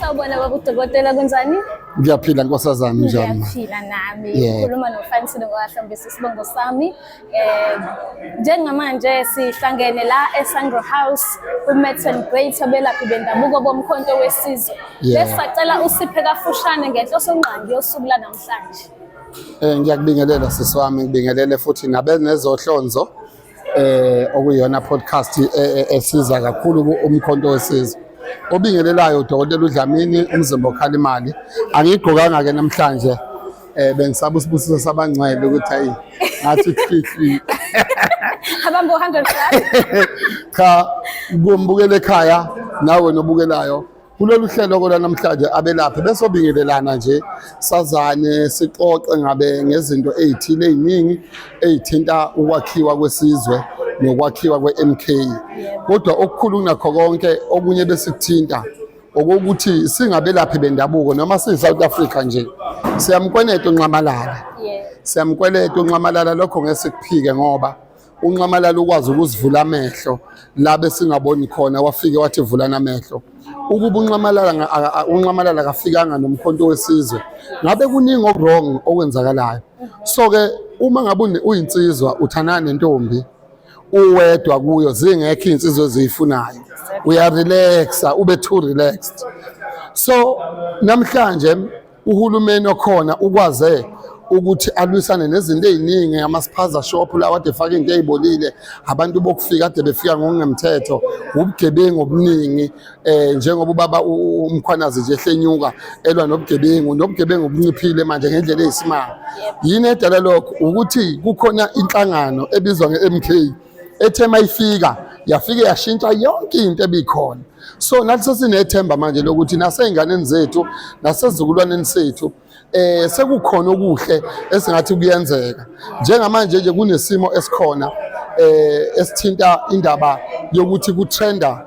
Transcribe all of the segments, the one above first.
Sawubona baba udokotela kunjani? Ngiyaphila nkosazana njani? Ngiyaphila nami. Ngikhuluma noFanisile ngokahlambisa isibongo sami. Eh njengamanje sihlangene la eSandro House kuMets and Great abelaphi bendabuko bomkhonto wesizwe. Bese sacela usiphe kafushane ngenhloso ngqangi yosuku lanamhlanje. Eh ngiyakubingelela sisi wami ngibingelele futhi nabenezohlonzo eh okuyona podcast e, e, esiza kakhulu umkhonto wesizwe obingelelayo udokotela uDlamini umzimba okhala imali angigqokanga ke namhlanje eh bengisaba usibusiso sabangcwele ukuthi ayi ngathi khihli abantu 100 cha kumbukele ekhaya nawe nobukelayo Kulolu hlelo lwanamhlanje abelaphi besobingelelana nje sazane sixoxe ngabe ngezinto ezithile eziningi ezithinta ukwakhiwa kwesizwe nokwakhiwa kweMK. Kodwa okukhulu kunakho konke okunye besikuthinta okokuthi singabelaphi bendabuko noma siyi-South Africa nje siyamkweneta unxamalala siyamkweleta unxamalala lokho ngeke sikuphike ngoba unxamalala ukwazi ukuzivula amehlo labe singaboni khona wafike wathi vulana amehlo ukuba unxamalala unxamalala kafikanga nomkhonto wesizwe ngabe kuningi okwrong okwenzakalayo so ke uma ngabe uyinsizwa uthanana nentombi uwedwa kuyo zingekho insizwe eziyifunayo uyarelaxa ube too relaxed so namhlanje uhulumeni okhona ukwaze ukuthi alwisane nezinto eziningi amasiphaza shop lawa ade faka into ezibolile abantu bokufika ade befika ngokungemthetho ubugebengu obuningi eh njengoba ubaba umkhwanazi nje ehlenyuka elwa nobugebengu nobugebengu obunciphile manje ngendlela eyisimanga yini edala lokho ukuthi kukhona inhlangano ebizwa ngeMK ethe mayifika yafike yashintsha yonke into ebikhona so nathi sesinethemba manje lokuthi nasey'nganeni zethu nasezizukulwaneni sethu eh sekukhona okuhle esingathi kuyenzeka njengamanje nje kunesimo esikhona eh esithinta indaba yokuthi kutrenda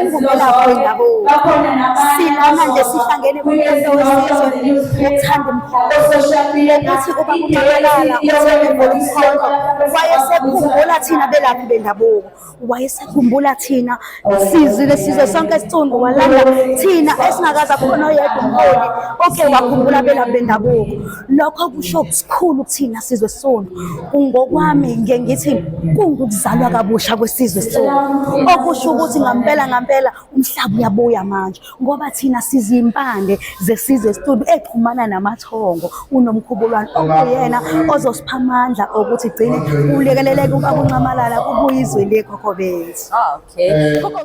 ungumelaphi wendabuko silana nje sihlangene kumuntu wesizwe ukuthanda umkhonto ukuthi uba uqakelana uthembele umkhonto wayesekhumbula thina belaphi bendabuko wayesekhumbula thina sizile sizwe sonke sicundu walanda thina esingakaza khona oyedwa umholi oke wakhumbula belaphi bendabuko Lokho kusho kusikhulu kuthina sizwe sona. Kungokwami ngiye ngithi kungukuzalwa kabusha kwesizwe sona. Okusho ukuthi ngampela ngampela umhlaba uyabuya manje ngoba thina sizimpande zesizwe studio exhumana namathongo unomkhubulwane okuyena ozosipha amandla okuthi gcine kulekeleleke ukuncamalala kubuyizwe lekho kobethu. Okay.